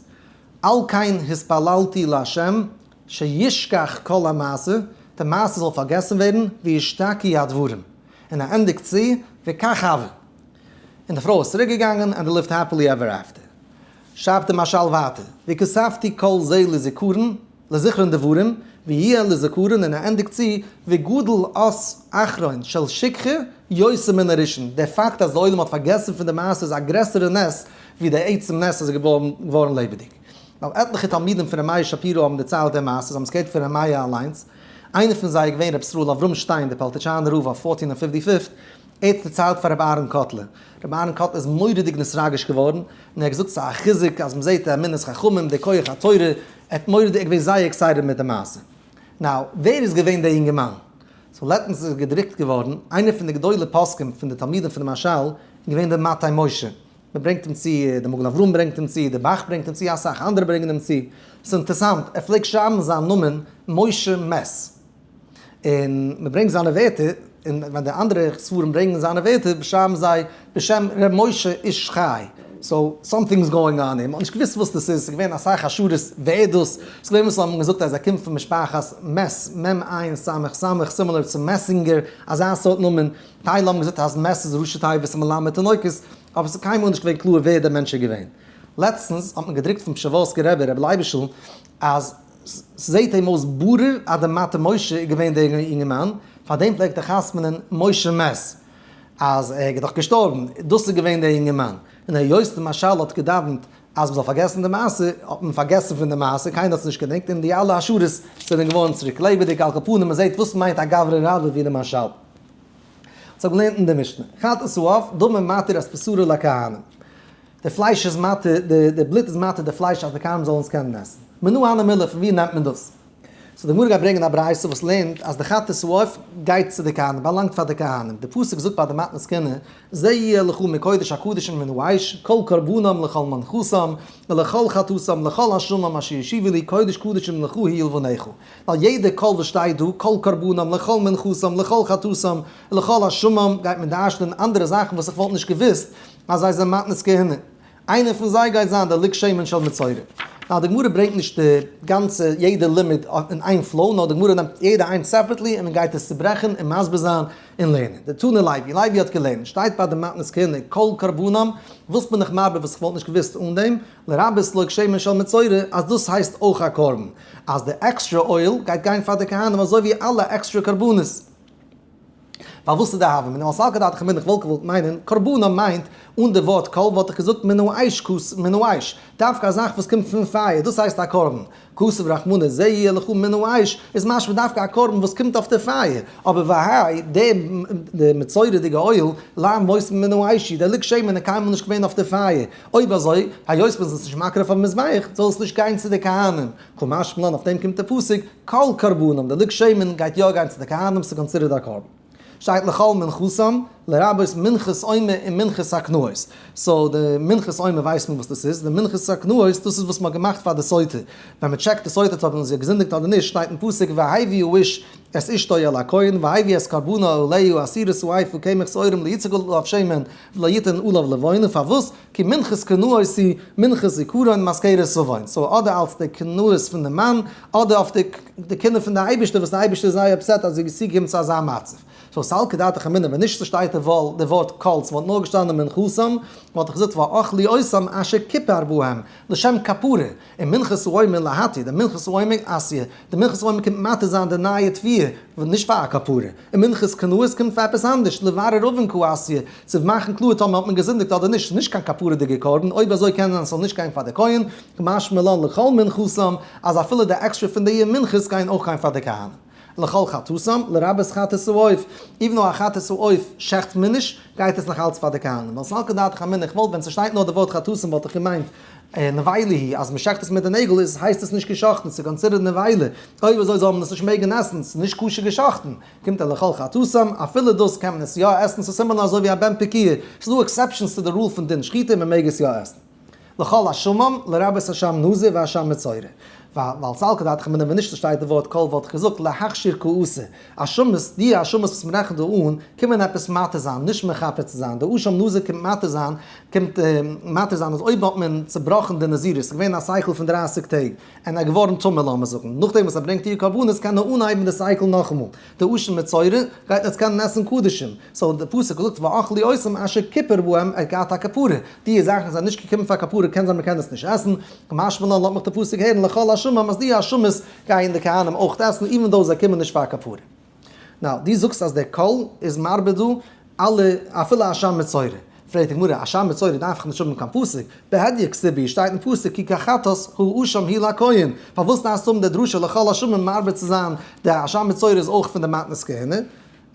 על כן התפללתי לה' שישכח כל המעשה, די מעשה זאל פארגעסן ווערן, וישתקי הדברים. און ער ענדיגט צו, וכך הוה. און די פרוי איז צוריק געגאנגען, ענד דעי ליווט העפילי עווער עפטער. שרייבט דער משל ווייטער, והוספתי כל זה לזיכרון, לזכרון דברים, ויהיה לזכרון און ער ענדיגט צו, וגודל אות אחרון של שכחה יותר מן הראשון, דער פאקט אז די עולם האט פארגעסן פון די מעשה איז א גרעסערע נס ווי די עצם נס אז עס איז געווארן לעבעדיג. ווייל עטליכע תלמידים פון ר' מאיר שפירא האבן דערציילט די מעשה, זיי האבן עס געהערט פון ר' מאיר אליינס, איינער פון זיי איז געווען ר' ישראל אברהם שטיין דער פאלטיטשאנער רב אויף פארטין און פיפטי פיפט, ער האט עס דערציילט פאר ר' אהרן קאטלער, ר' אהרן קאטלער איז מורא'דיג נתרגש געווארן, און ער האט געזאגט ס'איז א חיזוק אז מ'זעהט די אמונת חכמים, די כח התורה, ער האט מורא'דיג, ער איז געווען זייער עקסייטעד מיט די מעשה. נאו, ווער איז געווען דער יונגערמאן? סאו לעצטנס איז געדרוקט געווארן, איינער פון די גדולי פוסקים פון די תלמידים פון די מהרשל איז געווען דער מטה משה, מען ברענגט אים צו, דער מגן אברהם ברענגט אים צו, דער באך ברענגט אים צו, אסאך אנדערע ברענגען אים צו, עס איז אינטערסאנט, ער פלעגט שרייבן זיין נאמען משה מעס, און מען ברענגט זיינע ווערטער, און ווען די אנדערע ספרים ברענגען זיינע ווערטער שרייבן זיי בשם ר' משה איש חי, סאו סאמטינג איז גאואינג אן און מען האט נישט געוויסט וואס דאס איז, עס איז געווען אסאך השערות ועדות, עס איז געווען וואס האבן געזאגט אז ער קומט פון משפחת מעס, מ ע ס ס, סימילער צו מעסינגער, אזא סארט נאמען, טייל האבן געזאגט אז מעש איז ראשי תיבות מלמד אלוקות, אבער עס איז קיינמאל נישט געווען קלאר ווער דער מענטש איז געווען. לעצטנס האט מען געדרוקט פון פשעווארסקער רבי רבי לייביש'ל אז ס'זעהט אים אויס ברור אז דער מטה משה איז געווען דער אינגערמאן, פאר דעם פלעגט ער חתמ'נען משה מעש, אז ער איז דאך געשטארבן, דאס איז געווען דער אינגערמאן. און היות דער מהרשל האט געדאווענט אז מען זאל פארגעסן די מעשה, האט מען פארגעסן פון די מעשה, קיינער האט עס נישט געדענקט, און די אלע השערות זענען געווארן צוריק לעבעדיג, על כל פנים מען זעהט וואס מיינט א גברא רבה ווי דער מהרשל. האט זיך געלערנט אין די משנה, חת ס א אב, דומם מתיר אז פסורה לכהנים, די פלייש איז מתיר, די בלוט איז מתיר די פלייש אז די כהנים זאלן עס קענען עסן. מנא הא נמילא, פון ווי נעמט מען דאס? סאו די גמרא גייט ברענגען א ברייתא וואס לערנט אז די חת ס א אב גייט צו די כהנים, באלאנגט פאר די כהנים, די פסוק זאגט ביי די מתנת כהונה, זה יהיה לך מקודש הקדשים מן האש, כל קרבנם לכל מנחתם, ולכל חטאתם, לכל אשמם אשר השיבו לי, קודש קדשים לך הי' לבניך. ווייל יעדע קול וואס שטייט דא, קול קרבנם, לכל מנחתם, לכל חטאתם, לכל אשמים, גייט מען דרש'נען אנדערע זאכן וואס איך וואלט נישט געוואוסט אז זיי זענען מתנת כהונה. איינער פון זיי גייט זיין דער לג שמן של מצורע. נאר די גמרא ברענגט נישט די גאנצע יעדע לימוד אין איין פלאו, נאר די גמרא נעמט יעדע איינס סעפערעטלי און מען גייט עס צוברעכן און מסביר זיין און לערנען. די תנא לייבי, לייבי האט געלערנט, שטייט ביי די מתנת כהונה, קול קרבנם, וואס בין איך מרבה וואס איך וואלט נישט געוואוסט אן דעם, לרבות לג שמן של מצורע, אז דאס הייסט אויך א קרבן. אז די עקסטרע אויל גייט גיין פאר די כהנים אזוי ווי אלע עקסטרע קרבנות. פארוואס איז די הוה מינא אויס אלקא דאתכם בין איך וואלט געוואלט מיינען קרבנא מיינט אן די ווארט קול וואלט איך געזאגט מן האש כוס מן האש דווקא א זאך וואס קומט פון פייער דאס הייסט א קרבן כסף רחמנא זה יהיה לך מן האש איז משמע דווקא א קרבן וואס קומט אויף די פייער אבער והאי די מצורע'דיגע אויל למה מוסיפין מן האש איז דער ליקשיימענער קיינמאל נישט געווען אויף די פייער אויב אזוי, היות מען איז עס נישט מקריב אויפן מזבח, זאל עס נישט גיין צו די כהנים, כמשמע לן אויף דעם קומט די פסוק, כל קרבנם, די לג שמן גייט יא גיין צו די כהנים, ס'איז קאנסידערט א קרבן. שטייט לכל מנחתם, לרבות מנחת עומר און מנחת הקנאות. סאו די מנחת עומר ווייסט מען וואס דאס איז, די מנחת הקנאות דאס איז וואס מען האט געמאכט פאר די סוטה, ווען מען טשעקט די סוטה צו האבן זי געזינדיגט אדער נישט, שטייט אין פסוק והביא האיש את אשתו אל הכהן והביא את קרבנה אליהו עשירות ו עיפו קמח שעורים ליציקו ללא אויף שמן, ולא יתן עליו לבון, און פארוואס כי מנחת קנאות היא מנחת זיכרון מזכרת סביון, סאו אדער אלץ די קנאות פון די מאן, אדער אויף די קינדער פון די אייבערשטער וואס די אייבערשטער איז זייער אפסעט אז איז צוגעקומען צו אזא מצב, סאו ס'אלץ כדתך אמינא, ווען נישט ס'שטייט די ווארט קולטס וואלט נאר געשטאנען מנחתם, וואלט איך געזאגט ואכלי עשום אשר כפר בהם, לשם כפרה. און מנחת רומי להתיר, די מנחת רומי אסיר, די מנחת רומי קומט מתיר זיין די נייע תביעה, וואס נישט פאר א כפרה, און מנחת קנאות קומט פאר עפעס אנדערש, לברר אבן כ א אסיר, צו מאכן קלאר טאמער האט מען געזינדיגט אדער נישט, ס'איז נישט קיין כפרה'דיגער קרבן, אויב אזוי קען זיין ס'זאל נישט גיין פאר די כהן, ומשמע לן לכל מנחתם, אז אפילו די עקסטרע פון די יער מנחת גייען אויך גיין פאר די כהנים. לכל חטאתם, לרבות חטאת העוף, איווען דאו א חטאת העוף שעכט מען נישט, גייט עס נאך אלץ פאר די כהנים, ווייל סלקא דעתך אמינא, איך וואלט ווען ס'שטייט נאר די ווארט חטאתם וואלט איך געמיינט נבילה היא, אז מ'שעכט עס מיט די נעגל איז הייסט עס נישט געשאכטן, ס'איז קאנסידערט נבילה, אוי ווי אזוי זאל מען עס נישט מעגן עסן, ס'איז נישט כשר געשאכטן, קומט ער לכל חטאתם, אפילו דאס קען מען עס יא עסן, ס'איז סימעלער אזוי ווי א בן פקיעה, ס'איז דא עקסעפשענס צו די רול פון דין שחיטה, מ'מעג עס יא עסן. לכל השמים לרבות השם נזיר והשם מצורע, ווייל סל כדת חמינא ווען נישט דא שטייט די ווארט קול וואלט איך געזאגט להכשיר כעוסה השמות, די השמות וואס מען רעכנט דא אן קומען עפעס מתיר זיין נישט מכפר צו זיין, די השם נזיר קומט מתיר זיין קומט מתיר זיין אז אויב האט מען צובראכן די נזירות ס'איז געווען א סייקל פון דרײַסיק טעג און ער געווארן טמא לאמער זאגן נאכדעם וואס ער ברענגט איר קרבנות קען ער אנהייבן די סייקל נאכאמאל. די אשה מצורע גייט יעצט קענען עסן קדשים, סאו די פסוק וואס זאגט ואכלי עשום אשר כפר בהם ער האט געהאט א כפרה, די זאכן וואס זענען נישט געקומען פאר כפרה קען זיין מען קען עס נישט עסן, משמע לן לאמעך די פסוק הערן לכל השמים אז די אשמות גייען די כהנים אויך עסן איווען דאו זיי קומען נישט פאר כפרה. נאו, די זאגסט אז די קול איז מרבה דא? אלע, אפילו א שם מצורע. פרעגט די גמרא, א שם מצורע דארף איך נישט האבן קיין פסוק, בהדיא כסבי, שטייט אין פסוק כי כחטאת הוא ושם הי' לכהן, פארוואס דארפסטו האבן די דרשה לכל השמים מערבב צו זיין די א שם מצורע איז אויך פון די מתנות כהונה?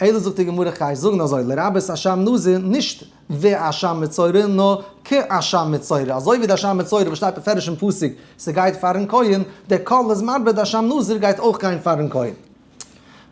אלא זאגט די גמרא כ'גיי זאגן אזוי, לרבות א שם נזיר, נישט ו א שם מצורע, נאר כ א שם מצורע, אזוי ווי די שם מצורע וואס שטייט בפירוש אין פסוק ס'גייט פארן כהן, די כל איז מערבב די שם נזיר גייט אויך גיין פארן כהן.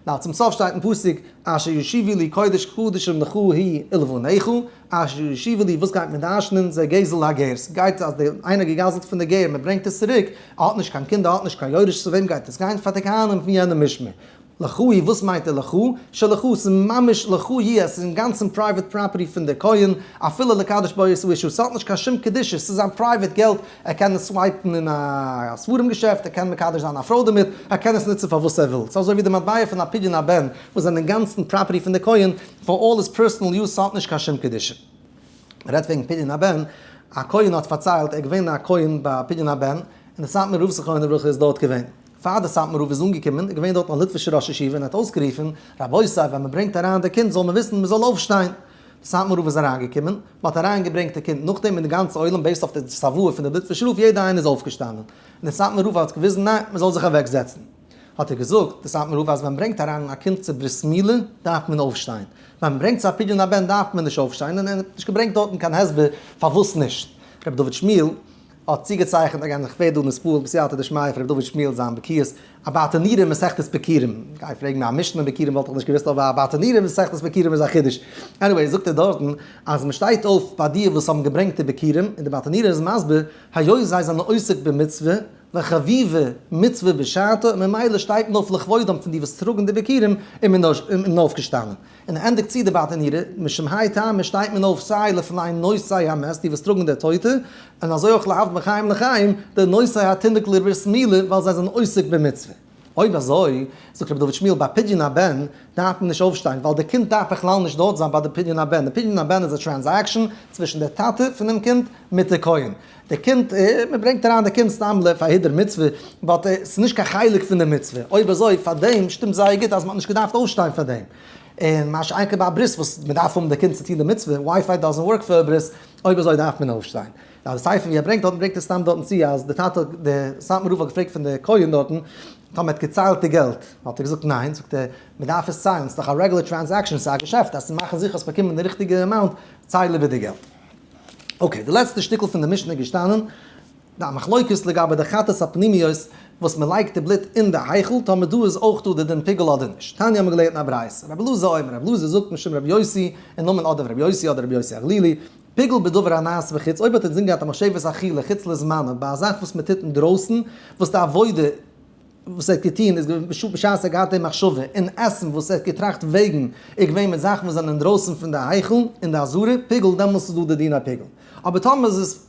ווייל צום סוף שטייט אין פסוק אשר ישיבו לי קודש קדשים לך היא ולבניך, אשר ישיבו לי וואס גייט מען דרשנען, זיי גזל הגר, ס'גייט אז דער איינער האט געגזלט פון די גר, מען ברענגט עס צוריק, ער האט נישט קיין קינדער, ער האט נישט קיין יורש, צו וועם גייט עס גיין, פאר די כהנים פון יענע משמר. לך היא וואס מיינט די לך? שלך, ס'איז ממש לך היא, עס איז אינגאנצן פרייוועט פראפערטי פון די כהן, אפילו לקדש בו את אישו, ס'האט נישט קיין שום קדושה, ס'איז זיין פרייוועט געלט, ער קען עס סווייפן אין א ספרים געשעפט, ער קען מקדש זיין א פרוי דערמיט, ער קען עס נוצן פאר וואס ער וויל. ס'איז אזוי ווי די מטבע פון א פדיון הבן וואס זענען אינגאנצן פראפערטי פון די כהן פאר אלל היז פערסאנעל יוז, ס'האט נישט קיין שום קדושה. מ'רעדט וועגן פדיון הבן, א כהן האט פארציילט, ער איז געווען א כהן ביי פדיון הבן, און די סאטמאר רב זכרונו לברכה איז דארט געווען. פאר די סאטמאר רב איז אנגעקומען איז געווען דארט א ליטווישער ראש ישיבה און ער האט אויסגערופן, רבותי ווען מ'ברענגט אריין די קינד זאל מען וויסן מ'זאל אויפשטיין, סאטמאר רב איז אריינגעקומען, מען האט אריינגעברענגט די קינד, נאכדעם איז די גאנצע עולם בעיסד אויף די צוואה פון די בית ושלח יעדער איינער איז אויפגעשטאנען, און די סאטמאר רב האט געוויזן ניין מען זאל זיך אוועק זעצן, האט ער געזאגט די סאטמאר רב אז ווען מען ברענגט אריין א קינד צו ברית מילה דארף מען אויפשטיין, ווען מען ברענגט צו א פדיון הבן דארף מען נישט אויפשטיין, און ער האט נישט געברענגט דארטן קיין הסבר פארוואס נישט. רבי דוד שמיעל האט צוגעצייכנט א גאנצע כבד און עס פועל'ט בסייעתא דשמיא פון ר' דוד שמואל זיין בקיאות א באטענירער אין מסכת בקירים, גיי פרעג מיר א משנה אין בקירים וואלט איך נישט געוויסט אבער א באטענירער אין מסכת בקירים איז א חידוש, עניוועי זאגט ער דארטן אז מען שטייט אויף ביי די וואס האבן געברענגט די בקירים און די באטענירער איז מסביר היות זיי זענען עוסק במצוה וחביבה מצוה בשעתה ממילא שטייט מען אויף לכבודם פון די וואס טראגן די בקירים און מען איז אויפגעשטאנען און ער ענדיגט צו די באטענירע, משום היי טעמא שטייט מען אויף סיי לפני נושאי המת, די וואס טראגן די טויטע, און אזוי אויך להבדיל בין חיים לחיים, די נושאי התינוק לברית מילה, ווייל זיי זענען עוסק במצוה. אויב אזוי, זאגט רבי דוד שמואל, ביי פדיון הבן דארף מען נישט אויפשטיין, ווייל די קינד דארף בכלל נישט דארט זיין ביי די פדיון הבן, די פדיון הבן איז א טרענזעקשאן צווישן די טאטע פונעם קינד מיט די כהן, די קינד, מען ברענגט אריין די קינד סתם ל פאר היעדר מצוה, באט עס איז נישט קיין חלק פון די מצוה, אויב אזוי פארדעם שטימט זייער גוט אז מען האט נישט געדארפט אויפשטיין פאר דעם, און מה שאין כן ביי א ברית וואס מען דארף האבן די קינד צו טון די מצוה, ווייפיי דאזענט ווארק פאר א ברית, אויב אזוי דארף מען אויפשטיין. ווייל סיי פון ווי ער ברענגט דארטן ברענגט ער סתם דארטן צו אז די טאטע האט די סאטמאר רב האט געפרעגט פון די כהן דארטן טאמער ער האט געציילט די געלט, האט ער געזאגט ניין, זאגט ער מען דארף עס ציילן, ס'איז דאך א רעגולער טרענזעקשאן, ס'איז א געשעפט, אז צו מאכן זיכער אז מען באקומט די ריכטיגע אמאונט, צייל איבער די געלט. אקעי, די לעצטע שטיקל פון די משנה איז געשטאנען די מחלוקת לגבי די חטאת הפנימיות וואס מען לייגט די בלוט אין די היכל טאמער דא איז אויך דא די דין פיגול אדער נישט. תניא האמיר געלערנט אין א ברייתא רבי אלעזר אומר רבי אלעזר זאגט משום רבי יוסי אין נאמען אדער רבי יוסי אדער רבי יוסי הגלילי פיגול בדבר הנעשה בחוץ אויב האט אינזין געהאט א מחשבת אכילה חוץ לזמנה ביי א זאך וואס מען טוט אינדרויסן וואס די עבודה וואס ער האט געטון איז געווען בשעת ער האט געהאט די מחשבה אין עסן וואס ער האט געטראכט וועגן איז געווען מיט זאכן וואס זענען אינדרויסן פון די היכל און די אזהרה פיגל דעמאלס איז דא די דין הפיגל אבער טאמער איז עס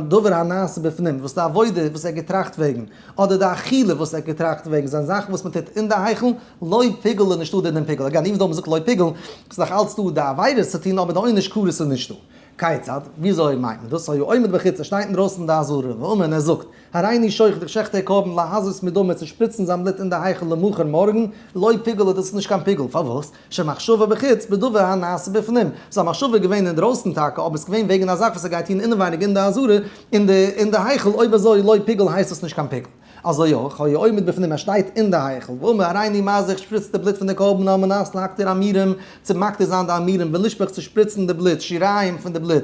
דבר הנעשה בפנים וואס די עבודה וואס ער האט געטראכט וועגן אדער די אכילה וואס ער האט געטראכט וועגן זענען זאכן וואס מען טוט אין די היכל לוי' פיגל איז נישטא די דין פיגל הגם איוו ס האט מען געזאגט לוי' פיגל איז נאך אלץ דא די עבירה צו טון אבער די עונש קרות איז נישטא כיצד וויאזוי מיינט מען דאס היה עומד בחוץ ער שטייט אינדרויסן די אזהרה ואומר און ער זאגט הריני שוחט דיך שעכט דער קרבן להזות מדמה צו שפריצן זיין בלוט אין די היכל למחר מארגן, לא פיגלא דאס איז נישט קיין פיגול, פארוואס? שמחשבה בחוץ בדבר הנעשה בפנים, זיין מחשבה איז געווען אינדרויסן טאקע אבער עס איז געווען וועגן א זאך וואס ער גייט טון אינעווייניג אין די עזרה אין די אין די היכל, אויב אזוי לא פיגול הייסט דאס נישט קיין פיגול. אזוי אויך היה עומד בפנים ער שטייט אין די היכל ואומר הריני מה זה שפריצט די בלוט פון די קרבן על מנת להקטיר המרים צו מקטיר זיין די המרים ולשפוך צו שפריצן די בלוט שיריים פון די בלוט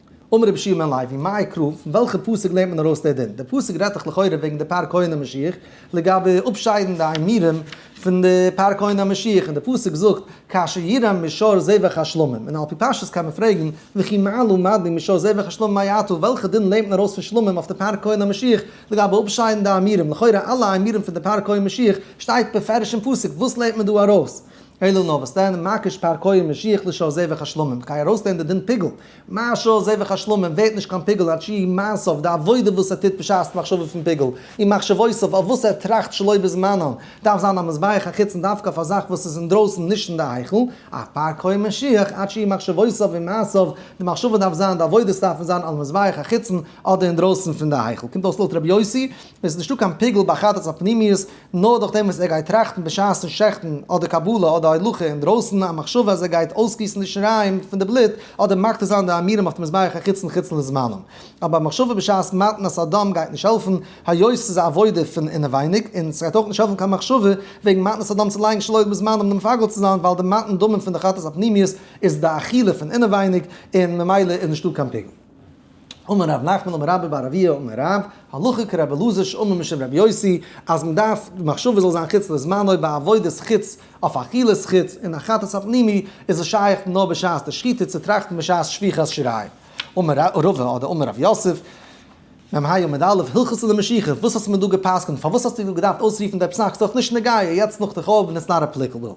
אמר רבי שמעון לוי, מאי קרוב, פון וועלכע פסוק לערנט מען ארויס די דין? די פסוק רעדט דאך לכאורה וועגן די פאר כהונה משיח, לגבי אפשיידן די עמירם פון די פאר כהונה משיח, און די פסוק זאגט, כאשר ירם משור זבח השלמים, און על פי פשטות קען מען פרעגן, וכי מה לו מדין משור זבח השלמים מאי אתא, וועלכע דין לערנט מען ארויס פון שלמים אויף די פאר כהונה משיח, לגבי אפשיידן די עמירם, לכאורה אלע עמירם פון די פאר כהן משיח, שטייט בפירוש אין פסוק, וואס לערנט מען דא ארויס? אלא נאר וואס דען, מה כשפר כהן משיח לשאר זבח השלמים, כ'גיי ארויסטוהן די דין פיגול, מה שאר זבח השלמים ווערט נישט קיין פיגול עד שיהי' מעשיו, די עבודה וואס ער טוט בשעת מחשבה פון פיגול, און מחשבותיו אויף וואס ער טראכט שלא בזמנן, דארף זיין א מזבח החוצן דווקא אויף א זאך וואס איז אינדרויסן נישט אין די היכל, א פר כהן משיח עד שיהי' מחשבותיו און מעשיו, די מחשבה דארף זיין, די עבודות דארפן זיין על מזבח החוצן אדער אינדרויסן פון די היכל, קומט אויס לויט רבי יוסי, עס איז נישטא קיין פיגול ביי חטאת הפנימיות, נאר דורך דעם וואס ער גייט טראכטן בשעת'ן שעכטן אדער קבלה אדער הולכה אינדרויסן א מחשבה אז ער גייט אויסגיסן די שריים פון די בלוט אדער מקטיר זיין די עמירם אויף די מזבח החיצון חוץ לזמנם. אבער א מחשבה בשעת מתן את הדם גייט נישט העלפן, היות עס איז א עבודה פון אינעווייניג, און עס גייט אויך נישט העלפן קיין מחשבה וועגן מתן את הדם צו לייגן שלא בזמנם די מפגר צו זיין, ווייל די מתן דמים פון די חטאת הפנימיות איז די אכילה פון אינעווייניג, און ממילא איז נישטא קיין פיגול. אמר ר' נחמן אמר רבא בר אביה אמר רב, הלכה כרבי אלעזר שאמר משום רבי יוסי, אז מען דארף די מחשבה זאל זיין חוץ לזמנו ביי עבודות חוץ אויף אכילת חוץ און החתת הפנימי איז עס שייך נאר בשעת די שחיטה צו טראכטן בשעת שפיכת שיריים, אמר רבא אדער אמר רב יוסף, מ ה עמוד א', הלכות די משיכה, וואס האסטו מיר דא גע'פסק'נט, פארוואס האסטו דא געדארפט אויסרופן די פסק, ס'דאך נישט נוגיא, יעצט נאך די חורבן איז נאט עפליקעבל.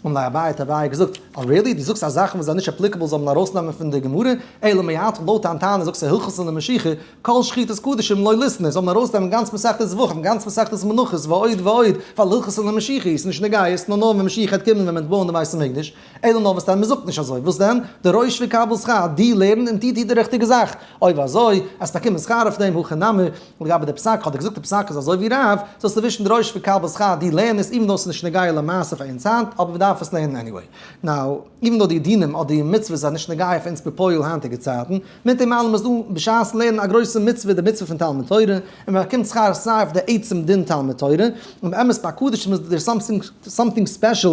אמר לי אביי, האט אביי געזאגט, אה ריעלי, דו זאגסט אז זאכן וואס זענען נישט עפליקעבל זאל מען ארויסנעמען פון די גמרא, אלא מאי האתך לויט דיין טענה זאגסטו הלכות אין די משיכה, כל שחיטת קדשים לא לישנא, זאל מען ארויסנעמען גאנץ מסכת זבחים, גאנץ מסכת מנחות, ועוד ועוד, ווייל הלכות אין די משיכה איז נישט נוגיא, ס'נאר נאר ווען משיח העט קומען ווען מ'עט בויען די בית המקדש. אלא נאר מסתם מען זאגט נישט אזוי, וואס דען? די רויש ויקבל שכר, די לערן און די טוט די ריכטיגע זאך, אויב אזוי עסט באקומען שכר אויף דעם, הכי נמי לגבי די פסק, האט ער געזאגט די פסק איז אזוי ווי רב, זאלסטו ווישן די רויש ויקבל שכר, די לערן עס איווען דאו עס איז נישט נוגע למעשה אויף אונז היינט, אבער מען דארף עס לערנען עניוועי. נאו, איווען דאו די דינים אדער די מצוות זענען נישט נוגע אויף אונז בפועל היינטיגע צייטן, מיט דעם אלעם איז דא בשעת'ן לערנען א גרויסע מצוה, די מצוה פון תלמוד תורה, און מען באקומט שכר סיי אויף די עצם דין תלמוד תורה, און באמת ביי קדושים איז דער סאמטינג ספעשל,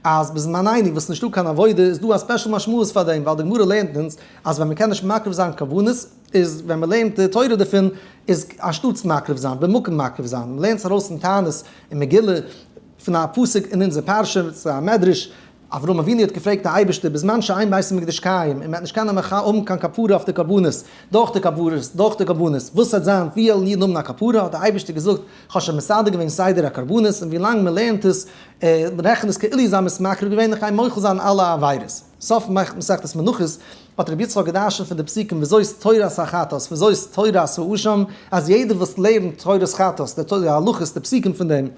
אז בזמן עיני וואס נישטא קיין עבודה איז דא א ספעשל משמעות פאר דעם ווייל די גמרא לערנט אונז אז ווען מ'קען נישט מקריב זיין כוונות איז ווען מ'לערנט די תורה דערפון איז אנשטאטס מקריב זיין במקום מקריב זיין מ'לערנט עס ארויס אין תענית אין מגילה פון א פסוק אין אונזער פרשה צו א מדרש אברהם אבינו האט געפרעגט די אייבערשטער בזמן שאין בית המקדש קיים און מ'וועט נישט קענען מח האבן קיין כפרה אויף די קרבנות דורך די קרבנות דורך די קרבנות וואס וועט זיין וויעל מיר האבן א כפרה האט די אייבערשטער געזאגט כ'האב שוין מסדר געווען סדר הקרבנות און ווי לאנג מ'לערנט עס רעכן איז כאילו איז האמת מקריב געווען איך גיי מוחל זיין אלע עבירות. סוף מסכת מנחות האט רבי יצחק געדרשנט פון די פסוקים וזאת תורת החתות וזאת תורת האשם אז יעדער וואס לערנט תורת חתות די תורה די הלכות די פסוקים פון דעם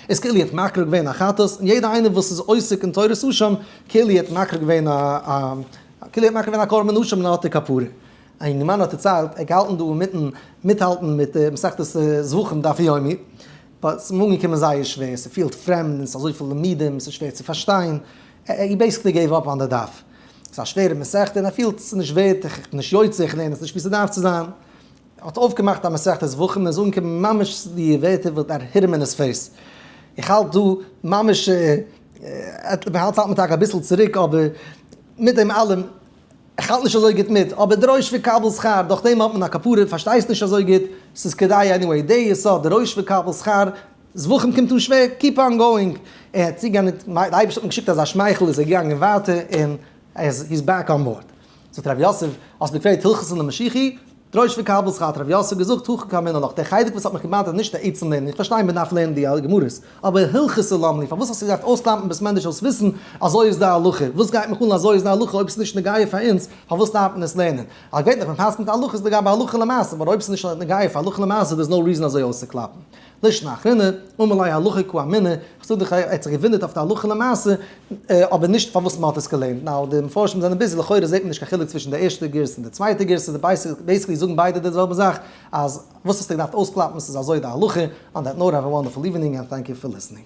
איז כאילו ער האט מקריב געווען א חתות און יעדער איינער וואס איז עוסק אין תורת האשם כאילו ער האט מקריב געווען א כאילו ער האט מקריב געווען א קרבן האשם און ער האט די כפרה. א יונגערמאן האט דערציילט, ער האט געהאלטן דא אינמיטן מיטהאלטן מיט די מסכת זבחים דף יומי, באט ס'איז אים אנגעקומען זייער שווער, ס'פילט פרעמד און ס'איז אזויפיל לומדים, ס'איז שווער צו פארשטיין, ער בעיסיקלי געיוו אפ אן די דף. ס'איז א שווערע מסכת און ער פילט ס'איז נישט ווערט, איך בין נישט יוצא, איך לערן עס נישט ווי ס'דארף צו זיין. ער האט אויפגעמאכט א מסכת זבחים און עס איז אנגעקומען ממש די ווערטער וואס דער היתמם איז פעסט. איך האלט דא ממש, מ'האלט מיט טאקע אביסל צוריק אבער מיט דעם אלעם, איך האלט נישט אזוי גוט מיט, אבער דרוש וקבל שכר, דורך דעם האט מען א כפרה, פארשטייסט נישט אזוי גוט, ס'איז כדאי עניוועי, די יסוד דרוש וקבל שכר, זבחים קומט אן שווער, קיפ אן גאואינג, ער האט צוגענדיגט, די אייבערשטער האט אים געשיקט אזא שמייכל איז ער געגאנגען ווייטער און ער איז, הי איז בעק אן באורד. זאגט רבי יוסף, האסט מיר געפרעגט הלכות אין די משיחי? דרוש וקבל שכר האט הרב יוסף געזאגט הכא קא אמינא לך, דער חלק וואס האט מיך געבאדערט איז נישט די עצם לערנען, איך פארשטיי מען דארף לערנען די גמרות, אבער הלכות ס' למה לי, פארוואס האסטו געדארפט אויסקלאמפן בית מדרש זאלסט וויסן אזוי איז די הלכה, וואס גייט מיך אן אזוי איז די הלכה אויב עס איז נישט נוגע פאר אונז פארוואס דארף מען עס לערנען, א געווענליך מען פסק'נט הלכות לגבי הלכה למעשה באט אויב עס איז נישט נוגע פאר הלכה למעשה דער איז נאו ריזען אזוי אויסצוקלאפן. לשנה אחרונה, אמר ליה הלכה כו אמינא, כ'זאג דיך ער האט זיך געוואונדערט אויף די הלכה למעשה, אבער נישט פארוואס מ'האט עס געלערנט, נאו די מפרשים זענען ביזי, לכאורה זעט מען נישט קיין חילוק צווישן די ערשטע גירסא און די צווייטע גירסא, בעיסיקלי זאגן ביידע די זעלבע זאך, אז וואס האסטו געדארפט אויסקלאפן, ס'איז אזוי די הלכה, אן דעט נאוט, העוו א וואנדערפול איווענינג ענד טענק יו פאר ליסענינג.